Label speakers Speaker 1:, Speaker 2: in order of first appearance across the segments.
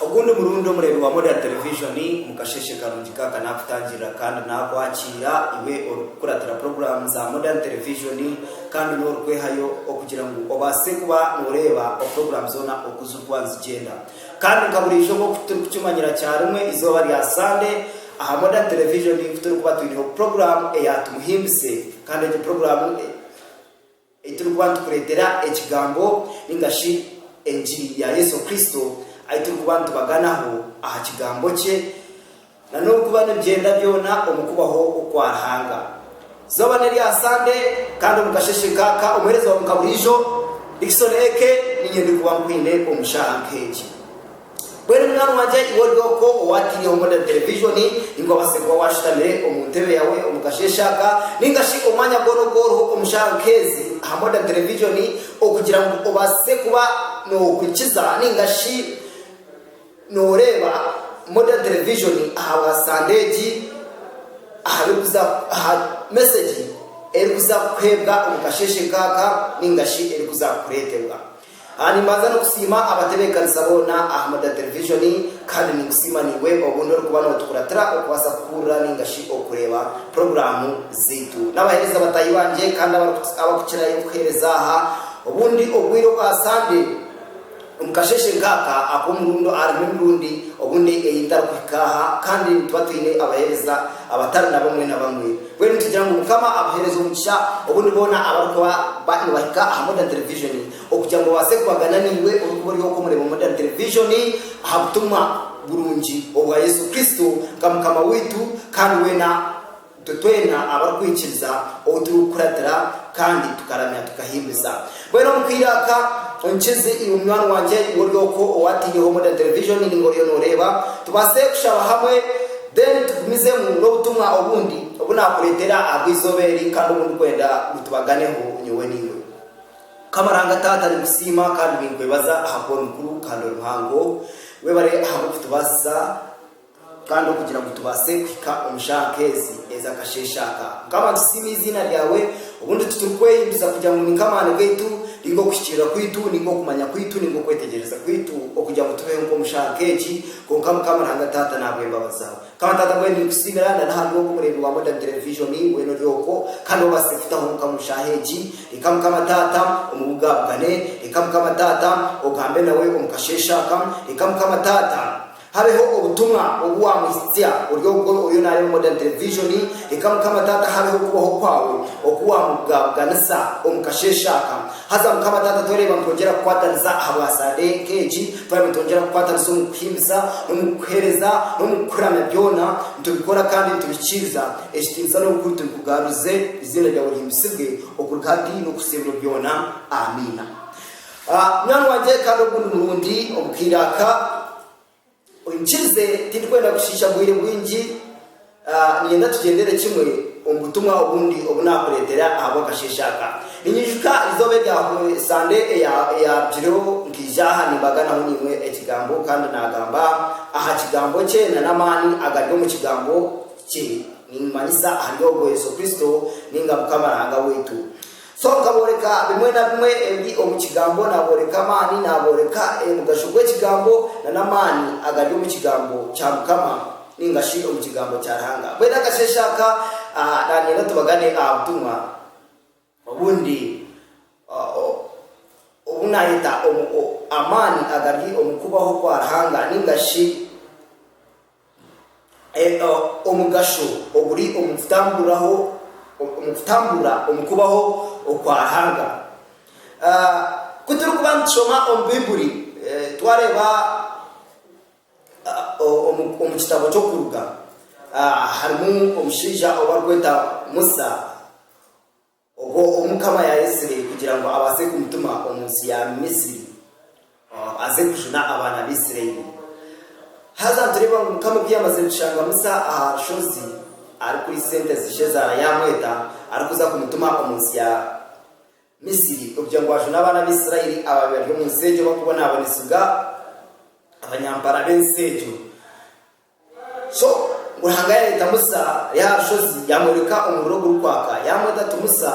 Speaker 1: Ogundi murundi omureebi wa Modern Television Mukasheeshe Karungi Kaka naakutangirira kandi naakwakiira iwe orikukuratira puroguraamu za Modern Television kandi n'orikwehayo okugira ngu obaase kuba nooreeba opuroguraamu zoona oku zirikuba nizigyenda. Kandi nka buriijo nk'oku turikukimanyira kya rimwe izooba rya Sande aha Modern Television ku turikuba twineho puroguraamu eya Tumuhimbise kandi egyo puroguraamu Ei turikuba nitukureetera Ekigambo ninga shi Engiri ya Yesu Kristo, ei turikuba nitubaganaho aha Kigambo kye, na n'okuba nibigyenda byona omu kubaho kwa Ruhanga. Izooba n'erya Sande, kandi omu kasheshe nk'aka, omuheereza waawe nka buriijo, Dickson A.K. Niinye ndikuba nkwine omu shaaha nk'egi. Mbwenu munywani wangye iwe ori okwo owaataireho modern television, ninga obaase kuba waashutamire omu ntebe yaawe omu kasheeshe aka, ninga shi omwanya gwona ogu oriho omu shaaha nk'ezi, aha modern television, okugira ngu obaase kuba noohurikiza ninga shi nooreeba modern television ahabwa Sande egi, ahabirikuza, aha mesegi erikuza kukuheebwa omu kasheeshe nkaaka, ninga shi erikuza kukureetebwa. Aha nimbanza nokusiima abatebekanisa boona aha Murda Televishoni kandi ninkusiima naiwe obundi orikuba notukuratira okubaasa kuhuurira ninga shi okureeba puroguraamu zaitu. Nabaheereza bataahi bangye kandi abari abakukirayo kuheereza aha obundi obwiire obwa Sande omu kasheshe nkaaka akomurundo aharimu emirundi obundi ei etarikuhika aha kandi nituba twine abaheereza abatari nabamwe nabamwe. Mbwenu nitugira ngu Mukama abuhereze omugisha obundi boona abarikuba ba nibahika aha Modern Television okugira ngu babaase kubagana naiwe orikuba ori okwo mureeba Modern Television aha butumwa burungi obwa Yesu Kristo nka Mukama waitu kandi weena itwe twena abarikwikiriza ou turikukuratira kandi tukaramya tukahimbiza. Mbwenu omu kwirata, omukizi iwe munywani wangye, iwe ori okwo owaataireho Modern Television ninga oriyo nooreeba, tubaase kushaba hamwe then tugumizemu n'obutumwa obundi obu naakureetera ahabw'eizooba eri kandi obu ndikwenda ngu tubaganeho nyowe naiwe. Mukama Ruhanga Taata ninkusiima kandi ninkwebaza ahakuba ori mukuru kandi ori muhango. Webare ahabw'okutubaasisa. Kandi okugira ngu tubaase kuhika omu shaaha nk'ezi ez'akasheeshe aka, Mukama, nitusiima eiziina ryawe, obundi titurikwehinduza kugira ngu ninka amaani gaitu, ninga okuhikiirira kwaitu, ninga okumanya kwaitu, ninga okwetegyereza kwaitu, okugira ngu tubeho nk'omu shaaha nk'egi, kwonka Mukama Ruhanga Taata n'ahabw'embabazi zaawe. Mukama Taata mbwenu ninkusiimira na n'aha rw'ogu omureebi wa Modern Television, weena ori okwo, kandi obaasize kutaho Mukama omu shaaha egi, reka Mukama Taata omubuga abugane, reka Mukama Taata ogambe nawe omu kasheeshe aka, reka Mukama Taata, Habeho obutumwa obu wamuhitsya ori ogwo oriyo nareeba Modern Television, reka Mukama Taata habeho okubaho kwawe oku wamubugabuganisa omu kasheshe aka. Haza Mukama Taata twereba nitwongyera kukwataniza ahabwa Sande nk'egi, twereba nitwongyera kukwatanisa omu kuhimbisa, n'omu kukuhereza, n'omu kukuramya byona nitubikora kandi nitubihikiiriza. Ekitinisa n'obukuru tubikugarurize, eiziina ryawe rihimbisibwe okuruga hati n'okuhitsya ebiro byona. Amiina. A Nangwa gye kandi ogu ni murundi omukaire aka oimukiirize tindikwenda kushiisha bwire bwingi a ninyenda tugyendere kimwe omu butumwa obundi obu naakureetera ahabw'akasheeshe aka. Ninyijuka eizooba erya Sande eya eyaarugireho nkaija aha nimbaganaho naimwe Ekigambo kandi naagamba aha Kigambo kye na n'amaani agari omu Kigambo kye, nimanyisa ahari ogwo Yesu Kristo ninga Mukama Ruhanga waitu. So nkabooreka bimwe na bimwe ebiri omu Kigambo, naabooreka amaani, naabooreka omugasho gw'Ekigambo, na n'amaani agari omu Kigambo kya Mukama, nainga shi omu Kigambo kya Ruhanga. Mbwenu akasheeshe aka, naanyenda tubagane aha butumwa obundi obu naayeta omu, omu, amaani agari omu kubaho kwa Ruhanga, nainga shi. Omugasho oguri omu kutamburira omu kubaho okwa Ruhanga. Ku turikuba nitushoma omu Baiburi, twareeba omu kitabo ky'Okuruga, harimu omushaija ou barikweta Musa. Obwo Omukama yaayetsire kugira ngu abaase kumutuma omu nsi ya Misri aze kujuna abaana ba Isiraeli. Haza nitureeba ngu Omukama obu yaamazire kushanga Musa aha rushozi ari kuri sente zi Shezaara yaamweta arikuza kumutuma omu nsi ya Misri kugira ngu ajune abaana ba Isiraeli abaabaire bari omu nsi egyo barikubonaabonesiibwa abanyampara b'ensi egyo. So, ngu Ruhanga yareeta Musa ari aha rushozi, yaamworeka omuriro ogurikwaka, yaamweta ati, Musa,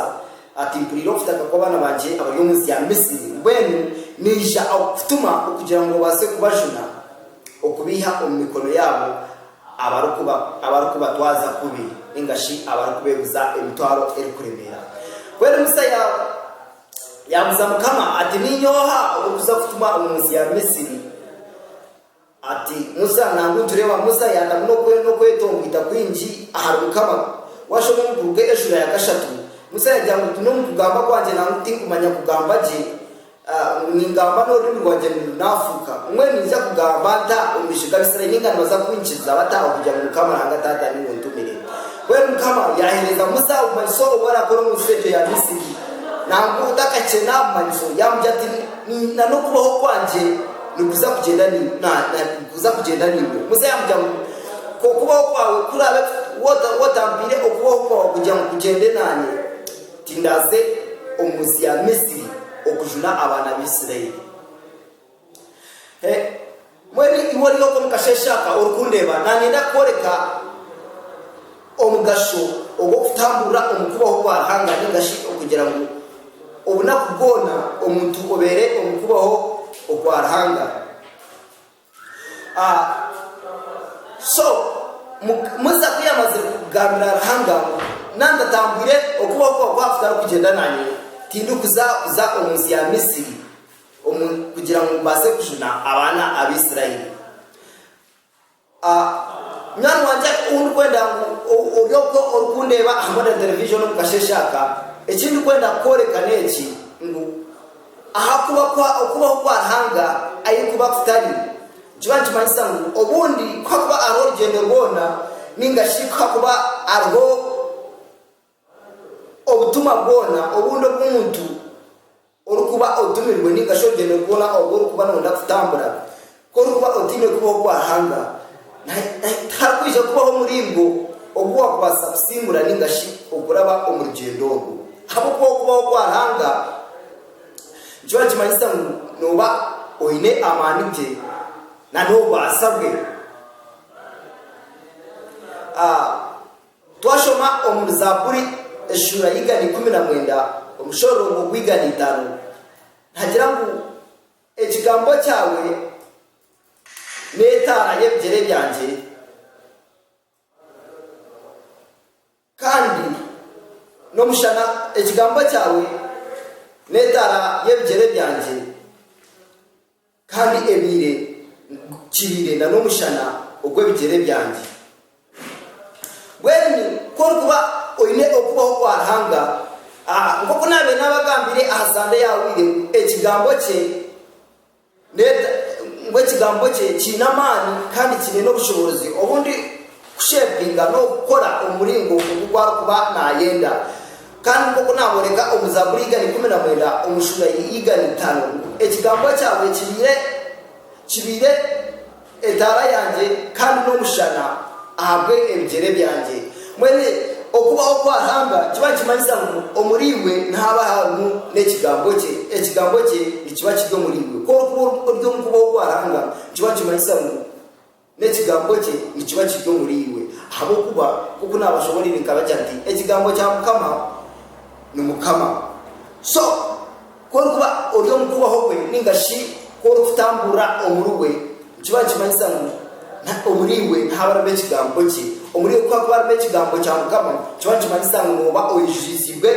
Speaker 1: ati, Mpuriire okutaka kw'abaana bangye abari omu nsi ya Misiri, mbwenu naija kukutuma okugira ngu obaase kubajuna, okubaiha omu mikono yaabo abarikubatwaza kubi, nainga shi abarikubeeguza emitwaro erikuremeera. Mbwenu Musa yaabuuza Mukama ati, Niinye oha orikuza kutuma omu nsi ya Misiri? Ati, Musa, nangwa nitureeba Musa yaatamu n'okwenda okwetongwita kwingi ahari Mukama. Waashoma omu Buruge eshura ya kashatu, Musa yagira ngu tine omu kugamba kwangye nangwa ku tinkumanya kugamba gye, ngu ningamba n'orurimi rwangye nirwo naafuuka. Mbwenu niija kugamba nta omu maisho g'Abaisraeli? Ninga nibaza kunkiriza bata okugira ngu Mukama Ruhanga Taata niwe ontumire? Mbwenu Mukama yaaheereza Musa obumanyiso obu arakora omu nsi egyo ya Misiri, nangwa otakakyena aha bumanyiso, yaamugira ati, Ni na n'okubaho kwangye. Nikuza kugyenda nikuza kugyenda naiwe. Muzehe amugira ngu, Okubaho kwawe kuraabe wota wotampaire okubaho kwawe kugira ngu kugyende naanye, tindaaze omu nsi ya Misri okujuna abaana ba Isiraeli. He, mbwenu iwe ori oku omu kasheeshe aka orikundeeba, naanye ndakworeka. Omugasho ogw'okutamburira omu Kubaho kwa Ruhanga ninga shi okugira ngu obunaku bwona omuntu obeere omu Kubaho okwa Ruhanga. A So, mu, Musa ku yamazire kugambira Ruhanga ngu, Nandatambwire, okubaho kwa kwa kutarikugyenda naanye, tindikuza kuza omu nsi ya Misiri omu, kugira ngu mbaase kujuna abaana Abaisraeli. A, Munywani wangye ou ndikwenda ngu ori okwo orikundeeba hamwe na terevijoni omu kasheshe aka, eki ndikwenda kukworeka n'eki, ngu aha kuba kwa Okubaho kwa Ruhanga ahi kuba kutari, nikiba nikimanyisa ngu obundi ku hakuba hariho orugyendo rwona, nainga shi ku hakuba hariho. Obutumwa bwona obundi obu muntu orikuba otumirwe nainga shi orugyendo rwona oru orikuba nooyenda kutambura, ku orikuba otaine kubaho kwa Ruhanga, tiharikwija kubaho muringo ogu waakubaasa kusingura nainga shi okuraba omu rugyendo orwo. Ahabw'okuba okubaho kwa Ruhanga nikyo nikimanyisa ngu nooba oine amaani ge n'obubaasa bwe. Twashoma omuri Zaaburi eshuura y'eigana ikumi na mwenda omushororongo gw'eigana itaano, nihagira ngu, Ekigambo kyawe n'etaara y'ebigyere byangye, kandi n'omushana Ekigambo kyawe n'etaara y'ebigyere byangye. Kandi ebaire nkukirire na n'omushana ogw'ebigyere byangye. Mbwenu ku orikuba oine Okubaho kwa Ruhanga, nk'oku naabaire naabagambire aha Sande eyahweire, ngu Ekigambo kye, ngu Ekigambo kye kiine amaani kandi kiine n'obushoboorozi obu ndi kushepinga n'okukora omu muringo ogu ku arikuba naayenda. Kandi nk'oku naabooreka omu Zaaburi igari ikumi na mwenda omu shuura y'igari itaano, ekigambo kyaawe kibaire kibaire etaara yangye kandi n'omushana ahabw'ebigyere byangye. Mbwenu okubaho kwa Ruhanga kiba nikimanyisa ngu omuriiwe nihaba harimu n'ekigambo kye, ekigambo kye nikiba kiri omuriiwe. Ku orikuba ori omu kubaho kwa Ruhanga, nikiba nikimanyisa ngu N'ekigambo kye nikiba kiri omuri iwe, ahabw'okuba nk'oku naabashoboreire nkabagira nti, Ekigambo kya Mukama ni Mukama. So, ku orikuba ori omu kubaho kwe nainga shi ku orikutamburira omuri we, nikiba nikimanyisa ngu omuri iwe nihaba harimu Ekigambo kye. Omuri iwe ku hakuba harimu Ekigambo kya Mukama, nikiba nikimanyisa ngu nooba oijuriziibwe.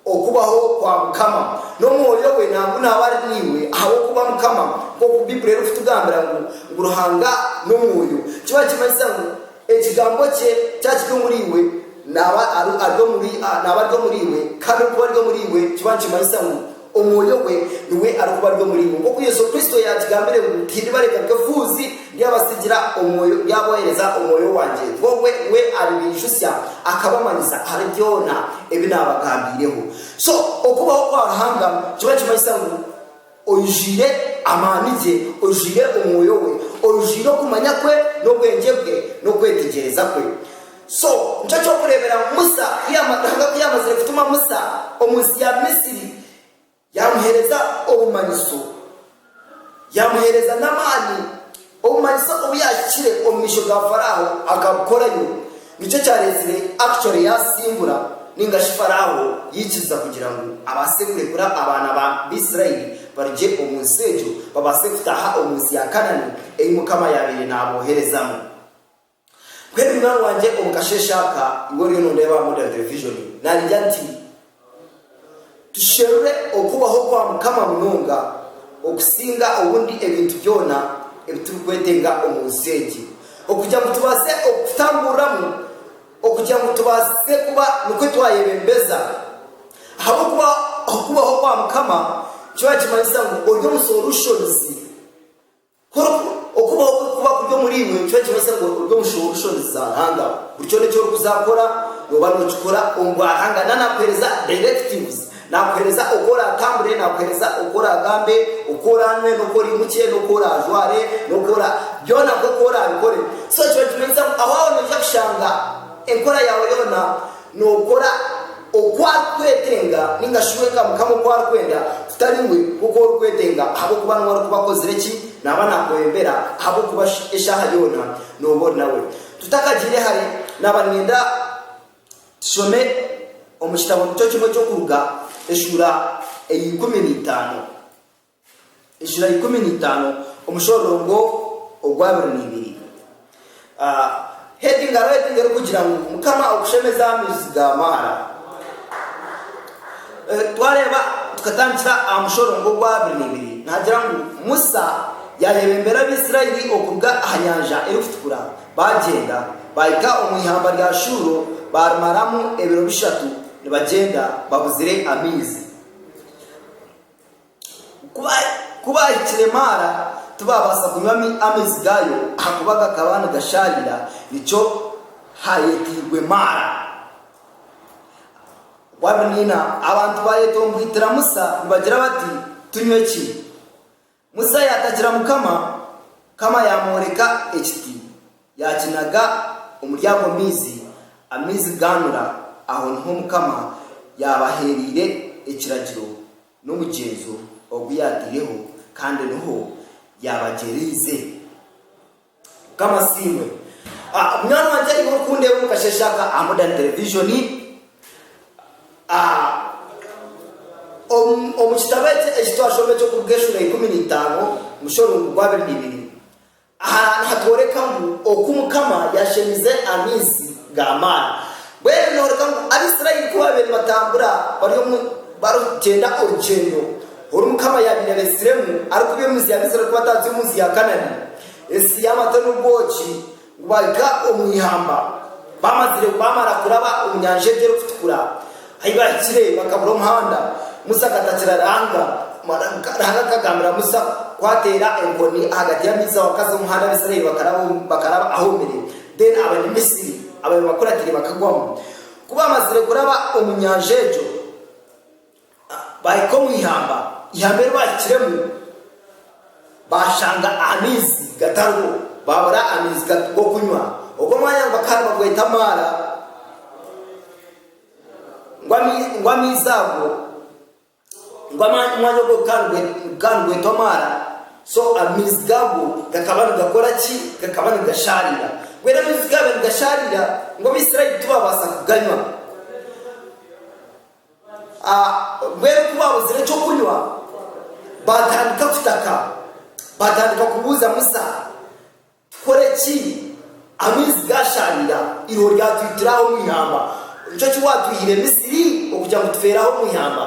Speaker 1: Okubaho kwa Mukama n'Omwoyo we nangu naabe ari naiwe, ahabw'okuba Mukama, nk'oku Baiburi erikutugambira ngu, ngu Ruhanga n'Omwoyo, kiba nikimanyisa ngu Ekigambo kye kya kiri omuri iwe, naaba ari ari omuri naaba ari omuri iwe, kandi okuba ari omuri iwe kiba nikimanyisa ngu Omwoyo we niwe arikuba ari omuri iwe, nk'oku Yesu Kristo yaakigambire ngu, Tindibareka nk'efuuzi. Ndyabatsigira omwoyo, ndyabohereza omwoyo wangye, Bobi we aribaijutsya akabamanyisa ahari byona ebi naabagambiireho. So, okubaho kwa Ruhanga nikyo kimanyisa ngu oijwire amaani gye, oijwire omwoyo we, oijwire okumanya kwe, n'obwengye bwe, n'okwetegyereza kwe. So, nikyo ky'okureeberaho Musa, Ruhanga ku yaamazire kutuma Musa omu nsi ya Misri. Yaamuheereza obumanyiso, yaamuheereza n'amaani. Obumanyiso obu yaahikire omu maisho ga Faraaho akabukorayo, nikyo kyareetsire Akicori yaasimbura nainga shi Faraaho yaikiriza kugira ngu abaase kurekura abaana ba Isiraeli barugye omu nsi egyo babaase kutaaha omu nsi ya Kanaani ei Mukama yaabaire naabooherezamu. Mbwenu munywani wangye omu kasheeshe aka iwe oriyo noondeeba aha Modern Television naagira ati, Tusherure Okubaho kwa Mukama munonga okusinga obundi ebintu byona ebi turikwetenga omu nsi egi, okugira ngu tubaase okutamburiramu, okugira ngu tubaase kuba nikwo twayebembeza. Ahabw'okuba Okubaho kwa Mukama nikyo nikimanyisa ngu ori omu solutions. Kwonka, okubaho kwe kukuba kuri omuriimwe, nikyo nikibaasa ngu ori omushoho w'enshoni za Ruhanga. Buri kyona eki orikuzaakora, nooba nookikora omu bwa Ruhanga. Nawe naakuheereza directives, naakuheereza oku oraatambure, naakuheereza oku oraagambe, oku oraanywe, n'oku oraimukye, n'oku oraajware, n'oku ora, byona nk'oku oraabikore. So, kiba nikimanyisa ngu aho waaba noija kushanga enkora yaawe yoona. Nookora oku arikwetenga nainga shi wenka Mukama oku arikwenda, kutari iwe nk'oku orikwetenga, ahabw'okuba niwe arikuba akozire ki? Naaba naakuhwembera, ahabw'okuba shi eshaaha yoona nooba ori nawe. Tutakagiire hare, naaba niinyenda tushome omu kitabo nikyo kimwe ky'Okuruga, eshuura eya ikumi na itaano. Enshura ikumi na itaano omushororongo ogwa abiri na ibiri. Heading hariho heading erikugira ngu Mukama okushemeze aha maizi ga Maara. Twareeba tukatandikira aha mushororongo ogwa abiri na ibiri nihagira ngu Musa yaayebembera Abaisiraeli okuruga aha nyanja erikutukura baagyenda baahika omu ihamba rya Shuuro baarimaramu ebiro bishatu nibagyenda babuzire amaizi. Ku baahikire Maara, tibaabaasa kunywa amaizi gaayo ahakuba gakaba nigashaarira, nikyo haayeteirwe Maara. Bwabiniina, abantu baayetomboitira Musa nibagira bati, Tunywe ki? Musa yaatagira Mukama, Mukama yaamworeka ekiti. Yaakinaga omuri ago maizi, amaizi gaanura. Aho niho Omukama yaabaheereire ekiragiro n'omugyenzo ogu yaataireho, kandi niho yaabagyereize. Mukama asiimwe. Munywani wangye aine orikundeba omu kasheeshe aka aha Modern Television. Omu kitabo eki eki twashoma eky'okuruga Eshura ya ikumi na itaano, omushorungu gwa abiri na ibiri, Aha nihatworeka ngu oku Mukama yaashemize amaizi ga maara. Mbwenu nihooreka ngu Abaisraeli ku baabaire nibatambura bari omu barikugyenda orugyendo oru Mukama yaabaire abaitsiremu arikubaiha omu nsi ya Misri arikubataatsya omu nsi ya Kanani, ensi y'amata n'obwoki, ngu baahika omu ihamba baamazire baamara kuraba omu Nyanja egyo Erikutukura. Ahi baahikire bakabura omuhanda, Musa akatakira Ruhanga. Ruhanga akagambira Musa ku ateera enkoni ahagati y'amaizi aho akaza omuhanda Abaisraeli bakaraba ahoomire, then Abanyamisri abaabaire bakuratire bakagwamu. Ku baamazire kuraba omu nyanja egyo, baahika omu ihamba. Ihamba eri baahikiremu, baashanga amaizi gatariho, baabura amaizi g'okunywa. Ogwo mwanya ngu bakaba nibagweta Maara. ngu amaizi ago, ngu omwanya ogwo gukaba nigwetwa omwaara, so amaizi gaago gakaba nigakora ki? Gakaba nigashaarira. Mbwenu amaizi gaabaire nigashaarira, ngu Abaisraeli tibaabaasa kuganywa. Mbwenu ku baabuzire eky'okunywa, baatandika kutaka, baatandika kubuuza Musa. Kukora eki, amaizi gaasharira, eiriho ryatwitira aho omu ihamba. Nikyo ki waatwihire Misiri okugira ngu tufeere aho omu ihamba?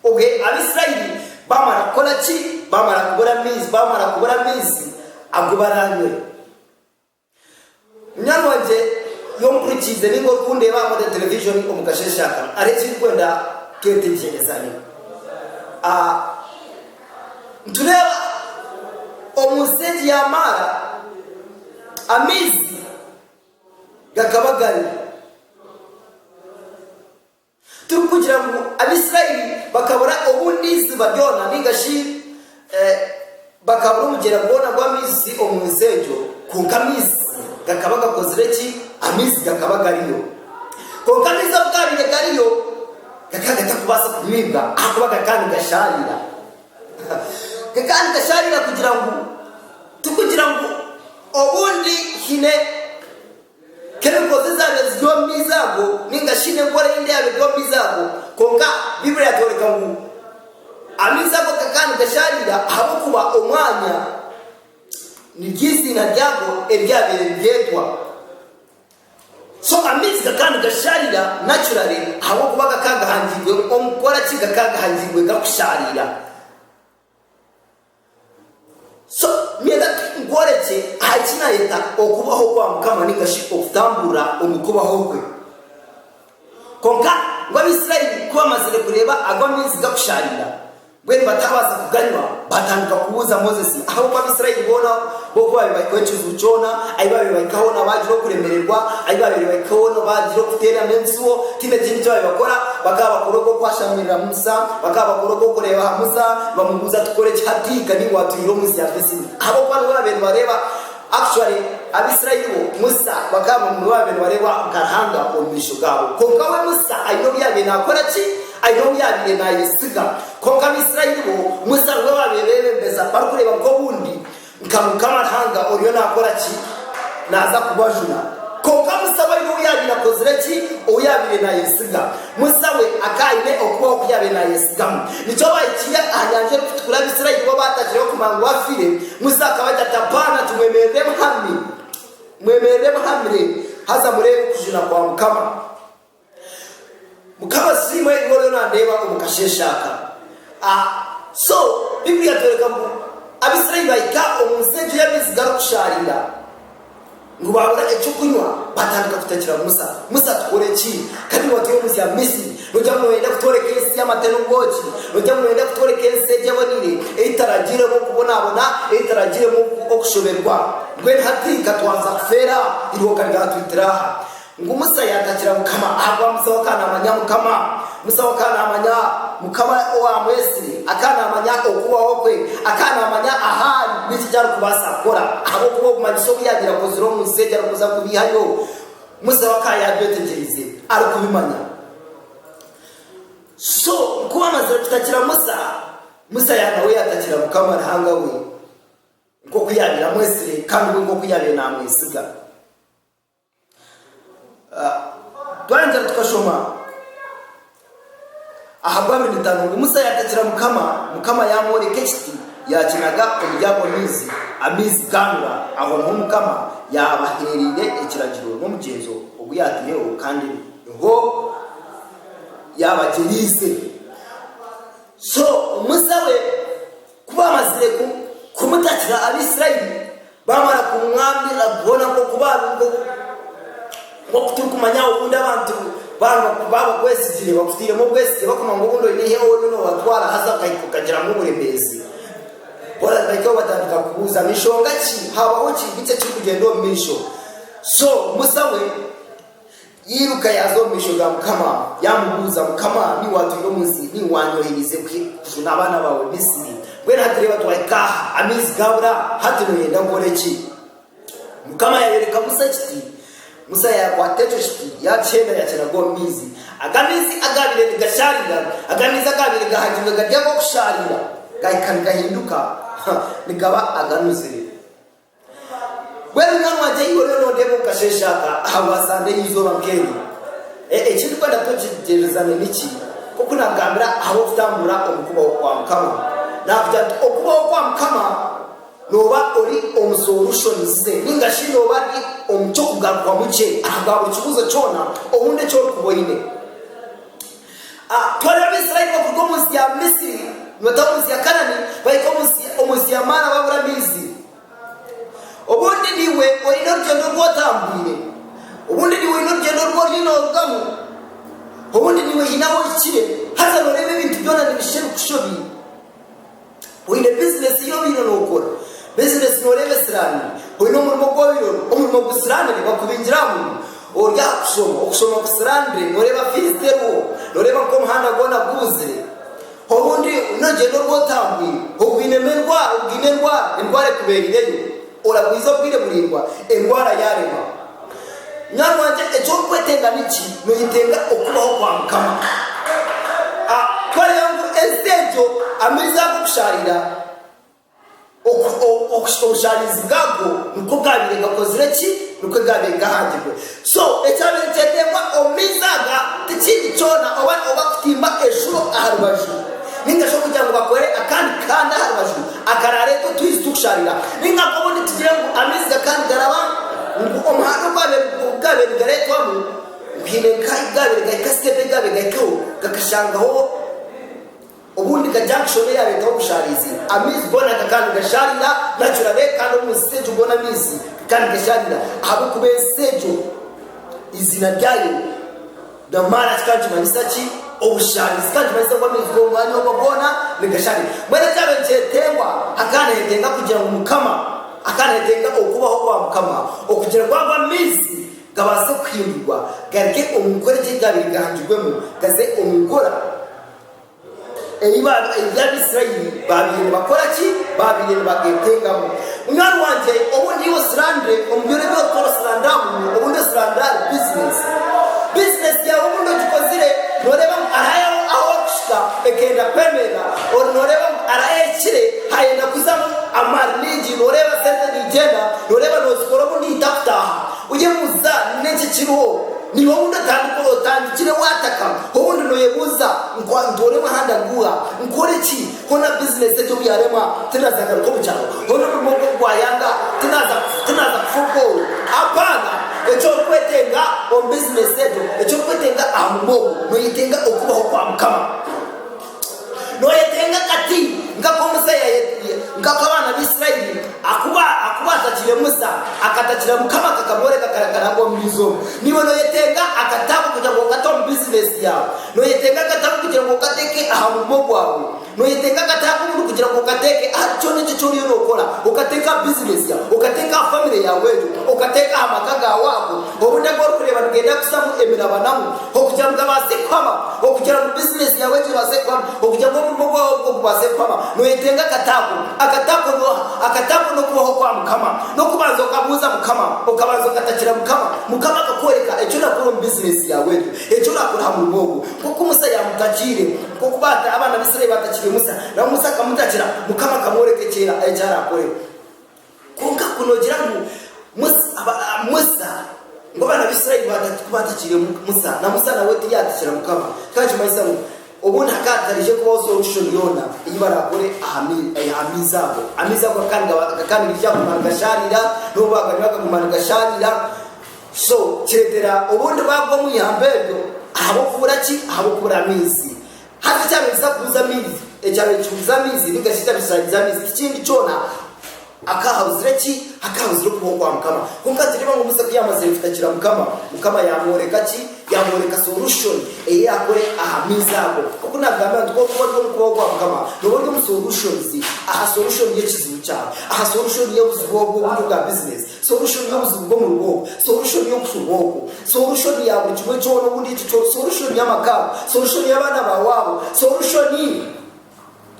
Speaker 1: Obwe Abaisiraeli baamara kukora ki? Baamara kubura amaizi, baamara kubura amaizi agu baraanywe. Munywani wangye y'omuhurikiize nainga orikundeeba aha Model Television omu kasheeshe aka, hariho eki ndikwenda twetegyerezane. Nitureeba omu nsi egi ya maara, amaizi gakaba gariho. Tirikugira ngu Abaisiraeli bakabura obundi iziba ryona nainga shi bakabura omugyera gwona gw'amaizi omu nsi egyo, kwonka amaizi gakaba gakozire ki? Amaizi gakaba gariyo. Kwonka amaizi obu gaabaire gariyo, Gakaba gatarikubaasa kunyibwa ahakuba gakaba nigashaarira. Gakaba nigashaarira kugira ngu tikugira ngu obundi haine kemikozi ezaabaire ziri omu maizi ago nainga shi haine enkora eyindi eyaabaire eri omu maizi ago. Kwonka Baiburi yaatworeka ngu amaizi ago gakaba nigashaarira ahabw'okuba omwanya niryo eiziina ryago eryabaire niryetwa. So amaizi gakaba nigashaarira naturally ahabw'okuba gakaba gahangirwe omu kukora ki? Gakaba gahangirwe gakushaarira. So nyenda nkworekye aha eki naayeta okubaho kwa Mukama nigashi okutamburira omu kubaho kwe. Kwonka ngu Abaisraeli ku baamazire kureeba ago amaizi gakushaarira, mbwenu bataabaasa kuganywa, baatandika kubuuza Mosesi ahabw'oku Abaisraeli boona b'oku baabaire bahikaho ekijuru kyona, ahi baabaire bahika hoona baagira okuremererwa, ahi baabaire bahika hoona baagira okuteerana ebisubo, tihaine kindi eki baabaire bakora, bakaba bakora ogw'okwashamirira Musa, bakaba bakora ogw'okureeba aha Musa, nibamubuuza ati, Tukore ki hati? Ka niiwe waatwihire omu nsi ya Misri. Ahabw'okuba niwe baabaire nibareeba. Actually Abisirayiri bo Musa bakaba babaire nibareebwa nka Ruhanga omu maisho gaabo. Kwonka we Musa aine obu yaabaire naakora ki? Aine obu yaabaire naayesiga. Kwonka Abisirayiri bo Musa nibwe baabaire beebembeza barikureeba nka obundi nka Mukama Ruhanga oriyo naakora ki? Naaza kubajuna. Kwonka Musa we aine obu yaabaire akozire ki? Ou yaabaire naayesiga. Musa we akaba aine okubaho oku yaabaire naayesigamu. Nikyo baahikire aha Nyanja Erikutukura Abaisraeli bo baatagireho kumanya obu afiire. Musa akaba agira ati, Apaana! Timwemerera emuhami, mwemerera emuhamire, haza mureebe okujuna kwa Mukama. Mukama asiimwe, iwe oriyo naandeeba omu kasheeshe aka. A So, Bibuli yatworeka ngu Abaisraeli baahika omu nsi egyo y'amaizi garikushaarira. Ngu baabura eky'okunywa, baatandika kutakira Musa, Musa, tukore ki? Ka niiwe watwehuzya Misri, noogira ngu nooyenda kutworeka ensi y'amata n'obwoki? Noogira ngu nooyenda kutworeka ensi egi eboniire, ei tutaragiiremu okubonaabona, ei tutaragiiremu okushoberwa? Mbwenu hati ka twanza kufeera aha irooka ryaatwitira aha. Ngu Musa yatakira Mukama, ahabw'obu Musa we akaba naamanya Mukama. Musa we akaba naamanya Mukama owaamwetsire, akaba naamanya okubaho kwe, akaba naamanya ahu ari n'eki eki arikubaasa kukora. Ahabw'okuba obumanyisa obu yaabaire akozire omu nsi egi arikuza kubeihayo, Musa we akaba yaabyetegyerize arikubimanya. So, ku baamazire kutakira Musa, Musa ya nawe yaatakira Mukama Ruhanga we, nk'oku yaabaire amwetsire kandi we nk'oku yaabaire naamwesiga. Twayongyera tukashoma aha Bwaaminitaano ngu Musa yaatakira Mukama, Mukama yaamworeka ekiti yaakinaga omuri ago maizi, amaizi gaanura. Aho niho Mukama yaabaheereire ekiragiro n'omugyenzo ogu yaataireho kandi niho yaabagyeriize. So Musa we. Ku baamazire kumutakira Abaisiraeli baamara kumwambira boona nk'oku baabi nk'oku turikumanya obundi abantu baaba bakwesigire bakutairemu obwesigye bakumanya ngu obundi oine eihe oine noobatwara haza okahika okagiramu oburemeezi boona bahikaho batandika kubuuza ngu enshonga ki haabaho kintu ki ekirikugyenda omu maisho so Musa we Yairuka yaaza omu maisho ga Mukama, yaamubuuza, Mukama, ni wa atwire omu nsi? Ni wa anyoheriize kujuna abaana baawe Misiri? Mbwenu hati reeba, twahika aha, amaizi gaabura, hati nooyenda nkore ki? Mukama yaayoreka Musa ekiti, Musa yaakwata ekyo kiti, yaakihenda, yaakiraga omu maizi. Aga maizi agaabaire nigashaarira, aga maizi agaabaire gahagirwe gari ag'okushaarira, gaahika nigahinduka, ha, nigaba aganuzire. Mbwenu nawe wagye ahi oriyo noreeba omu kasheeshe aka aha waasanga eizooba nk'eryo, ekirikwenda twegyegyerezane niki? Nk'oku naagambire ahabw'okutambura omu kubaho kwa Mukama. Naagira nti, Okubaho kwa Mukama nooba ori omu solution ze nainga shi nooba ori omu ky'okugarukwamu kye aha bwa buri kibuuzo kyona obundi eki orikuba oine. A Ku hariho Abaisraeli bakuruga omu nsi ya Misri nibataha omu nsi ya Kanaani, bahika omu nsi omu nsi ya Maara baabura amaizi. Obundi niiwe oine orugyendo oru otambwire. Obundi niiwe oine orugyendo oru oriyo noorugamu. Obundi niiwe haine ahu ohikire, haza nooreeba ebintu byona nibishusha ebikushobiire. Oine bizinesi ei obaire nookora? Bizinesi nooreeba esiraanire? Oine omurimo ogu obaire ori? Omurimo gusiraanire? Bakubingire aha murimo? Ori aha kushoma? Okushoma kusiraanire? Nooreeba fiizi teriho? Nooreeba nk'omuhanda gwona gubuzire? Obundi n'orugyendo oru otambwire? Ogwinemu endwara? Ogaine endwara? Endwara ekubeerireyo? Oragwiza obwire buraingwa endwara yaarema. Munywani wangye, eki orikwetenga niki? Nooyetenga Okubaho kwa Mukama? A Twareeba ngu enzita egyo amaizi ago kushaarira, oku, o, oku, obushaarizi bwago nikwo gaabaire gakozire ki? Nikwo gaabaire gahangirwe. So, ekyabaire nikyeteebwa omu maizi aga tikindi kyona oba oba kutimba eshuro aha rubaju nainga shi okugira ngu bakore akandi kahanda aha rubaju akaraareeta otwizi tukusharira. Ni nka nk'obu nitugire ngu amaizi gakandi garaba ngu omuhanda ogwabaire ogu gaabaire nigareetwamu ngu haine nk'ahu gaabaire gahika, siteepu ei gaabaire gahikaho gakashangaho. Obundi ka junction eyareetaho obushaarizi, amaizi goona gakaba nigashaarira nacura be kandi omu nsi egyo goona amaizi gakaba nigashaarira ahabw'okuba ensi egyo eiziina ryayo Namara kikaba nikimanyisa ki? Obushaarizi. Kikaba nikimanyisa ngu amaizi g'omu mwanya ogwo goona nigashaarira. Mbwenu ekyaaba nikyetenga, hakaba nihetenga kugira ngu Mukama, hakaba nihetenga okubaho kwa Mukama okugira ngu ago amaizi gabaase kuhindurwa garuge omu nkora egi eryabaire gahangirwemu gaze omu nkora. Ebi Abaisraeli baabaire nibakora ki? Baabaire nibageetengamu. Munywani wangye, obu ndi osilandire omu byona ebi orikuba osilandiramu, obu ndi osilandire ahari bizineesi. Bizineesi yaawe obu ndi ogikozire, nooreeba ngu hariho ahu orikuhika ekenda kwemerera, ori nooreeba ngu hariho ehikire haayenda kuzamu amaani maingi, nooreeba sente niigyenda, nooreeba noozikora obundi hita kutaaha. Oyebuuza, Ni enki kiriho? Niiwe ou ndatandika kuroota? Ndikire waataka? Obundi nooyebuuza, Nkwa ntooremu aha ndaguha? Nkore ki? Hoona bizinesi egyo obu yaarema, tinaaza ngaruka omu kyaro? Hoona omurimo ogwo obu gwayanga, tinaaza tinaaza kufa obwooro? Apaana! Eki orikwetenga omu bizinesi egyo, eki orikwetenga aha murimo ogwo, nooyetenga okubaho kwa Mukama. Nooyetenga kati nk'aku Musa nk'aku abaana b'Isiraeli aku aku baatakire Musa, akatakira Mukama akakamworeka akarakara omu maizi omu. Niiwe nooyetenga akatabu kugira ngu okate omu bizinesi yaawe? Nooyetenga akatabu kugira ngu okateeke aha murimo gwawe? Nooyetenga akatabu buni kugira ngu okateeke ahari kyona eki eki oriyo nookora? Okateeke aha bizinesi yaawe? Okateeke aha famire yaawe egyo? Okateeke aha maka gaawe ago? Obundi abu orikureeba nigenda kuzamu emirabanamu okugira ngu gabaase kuhama, okugira ngu bizineesi yaawe egye ebaase kuhama, okugira ngu omurimo gwaawe ogwo gubaase kuhama, nooyetenga akataago. Akataago nooha? Akataago n'okubaho kwa Mukama. N'okubanza okabuuza Mukama, okabanza okatakira Mukama, Mukama akakworeka eki orakora omu bizineesi yaawe egyo, eki orakora aha murimo ogwo. Nk'oku Musa yaamutakiire, nk'oku baata, abaana b'Israeli baatakiire Musa, nabwo Musa akamutakira, Mukama akamworeka eki eki arakore. Kwonka ku noogira ngu Musa, ngu abaana b'Israeli ku baatakiire Musa, na Musa nawe ti yaatakira Mukama, kikaba nikimanyisa ngu obundi hakaba hatarije kubaho solushoni yoona ei baraakore aha maizi ago. Amaizi ago gakaba nigakyaguma nigashaarira, n'obu baaganywa gakaguma nigashaarira. So kireetera obundi baagwa omu ihamba eryo ahabw'okubura ki? Ahabw'okubura maizi. Haza ekyaaro nikiza kuhuza amaizi, ekyaaro nikihuza amaizi ninga shi ekyaaro nikishaariza amaizi tikindi kyoona akahauzire ki? Akahauzire okubaho kwa mukama kwonka nitureeba ngu Musa kuyamazire kutakira mukama, mukama yamworeka ki? Yamworeka solution eyi yakore aha maizi ago oku nagambira nti kwonka ori omu kubaho kwa mukama noba ori omu solutions aha solution y'ekizibu kyaawe, aha solution y'obuzibu obwo oburi bwa business. Solution y'obuzibu bw'omu rugo obwo. Solution y'okushuba okwo. Solution ya buri kimwe kyona oku ndi ekyo kyona. Solution y'amaka ago. Solution y'abaana baawe abo. Solution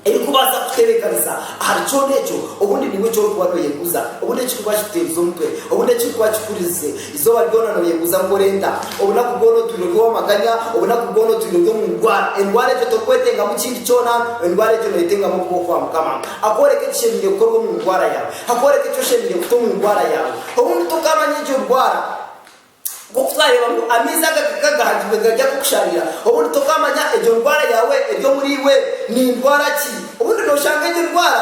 Speaker 1: erikubaasa kukutebeekanisa ahari kyona ekyo obundi niiwe eki orikuba nooyebuuza, obundi ekirikuba kikuteerize omutwe, obundi ekirikuba kikuhuriirize. Eizooba ryona nooyebuuza ngu nkore nta? Obunaku bwona otwire ori ow'amaganya. Obunaku bwona otwire ori omu ndwara. Endwara egyo terikwetengamu kindi kyona. Endwara egyo neetengamu okubaho kwa Mukama akworeke ekishemereire kukorwa omu ndwara yaawe. Hakworeka eki oshemereire kuta omu ndwara yaawe. Obundi tokaamanya egyo ndwara. Nk'oku twareeba ngu amaizi agakaka gahagirwe gari ag'okusharira, obundi tokaamanya egyo ndwara yaawe eri omuri iwe ni ndwara ki. Obundi nooshanga egyo ndwara,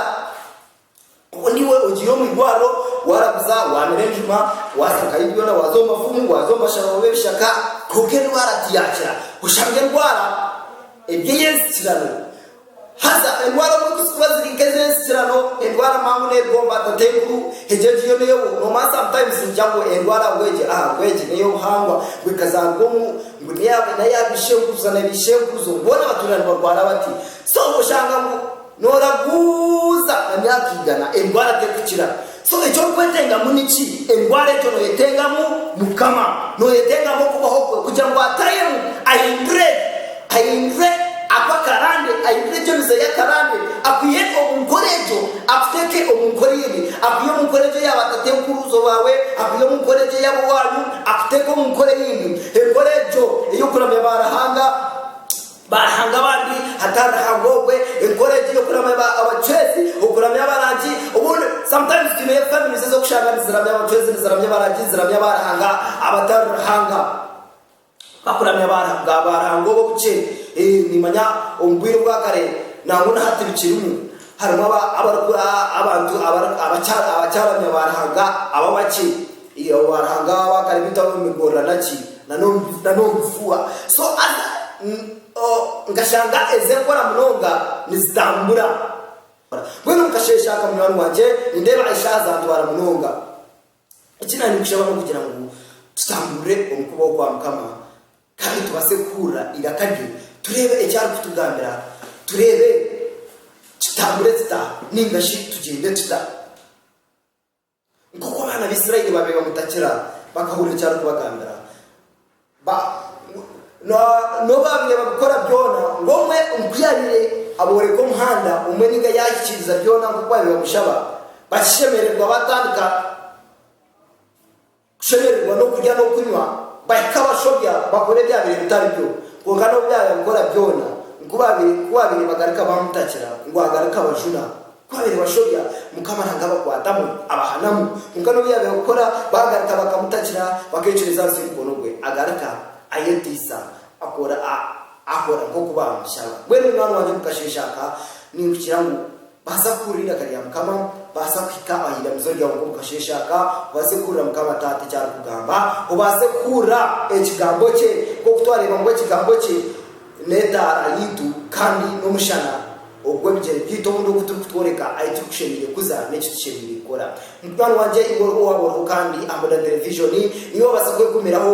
Speaker 1: obundi iwe ogiire omu irwariro, waaraguza, waamira enjuma, waatsakayo byona, waaza omu bafumu, waaza omu bashaho b'ebishaka, kwonka endwara tiyaakira. Oshanga endwara eri ey'enzikirano. Haza endwara oburi kuzikura ziri nk'ez'ensikirano, endwara mpango n'erigomba tata enkuru, egyo egi yo n'eyo nomaa sometimes nigira ngu endwara ngu egi aha ngu egi n'ey'obuhangwa ngu ekazaarwa omu ngu n'eya n'eya bishenkuruza na bishenkuruzo boona batuura nibarwara bati. So oshanga ngu nooraguuza na myaka igana endwara terikukira. So eky'orikwetengamu niki? Endwara egyo noyetengamu Mukama. Noyetengamu okubaho kwe kugira ngu atayemu, ahindure, ahindure aku akarande, ahindure eby'emize ye akarande, akwihe omu nkora egyo, akuteeke omu nkora endi, akwihe omu nkora egyo ya ba tatekuruuzo baawe, akwihe omu nkora egyo eyabo waanyu, akuteeke omu nkora eyindi. Enkora egyo ey'okuramya ba Ruhanga Baaruhanga abandi hatari Ruhanga ogwe, enkora egi y'okuramya ba abacwezi, okuramya abarangi, obundi sometimes twineyo families ez'okushanga niziramya abacwezi, niziramya abarangi, niziramya baaruhanga abatari Ruhanga, bakuramya baaruhanga baaruhanga obu obuce, eeh nimanya omu bwire obwa kare nangwa na hati bikirimu, harimu aba abari ku a abantu abari abakyari abakyaramya baaruhanga abo abace. Iyo waaranga aho akari bita omu migorrana ki na n'omu na n'omu bifuha so haza n oh nkashanga eze nkora munonga nizitambura ora mbwenu nkasheesha aka munywani wangye nindeeba eshaaha zantwara munonga eki naanye nkushaba n'okugira ngu tutamburire omu kubaho kwa Mukama kandi tubaase kuhurira iraka rye tureebe eki arikutugambira tureebe tutambure tuta nainga shi tugyende tuta. Nk'oku abaana b'Israeli baabaire bamutakira bakahurira eki arikubagambira, ba, n'obu baabaire babikora byona, ngu omwe nk'oku yaabaire abooreka omuhanda omwe nainga yaahikiriza byona nk'oku baabaire bamushaba, bakishemererwa baatandika. Kushemererwa n'okurya n'okunywa, bahika abashobya bakora ebyabaire bitari byo, kwonka n'obu baabikora byona, ku baabaire bagaruka baamutakira ngu agaruke abajuna. Ku baabaire bashobya, Mukama nanga abakwatamu, abahanamu, kwonka n'obu yaabaire kukora baagaruka bakamutakira, bakeecureza ahansi y'omukono gwe, agaruka ayeteisa, akora nk'oku baamushaba. Mbwenu munwaani wangye mukasheeshe aka, ninkukira ngu Baasa kuhurira eiraka rya Mukama, baasa kuhika aha iramizo ryawe nk'omu kasheeshe aka, obaase kuhurira Mukama Taata eki arikugamba, obaase kuhurira Ekigambo kye, nk'oku twareeba ngu Ekigambo kye n'etaara yaitu kandi n'omushana ogw'ebigyere byaitu obundi ogu turikutworeka ahu turikushemereire kuza n'eki tushemereire kukora. Munywani wangye iwe owaaba oriho kandi aha Modern Television, niiwe waabaasa kwegumiraho.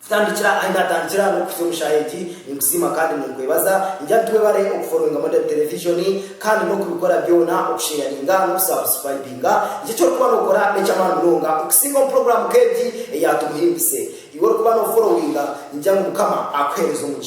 Speaker 1: Kutandikira ahi naatandikira n'okuhitsya omu shaaha egi, ninkusiima kandi ninkwebaza. Ningira nti webare okufollowinga Model Television kandi n'okubikora byona, okusheyaringa n'okusubscribinga. Nikyo eki orikuba nookora n'eky'amaani munonga okusinga omu puroguraamu nk'egi eya Tumuhimbise. Iwe orikuba noofollowinga, ningira ngu Mukama akuheereze omugisha.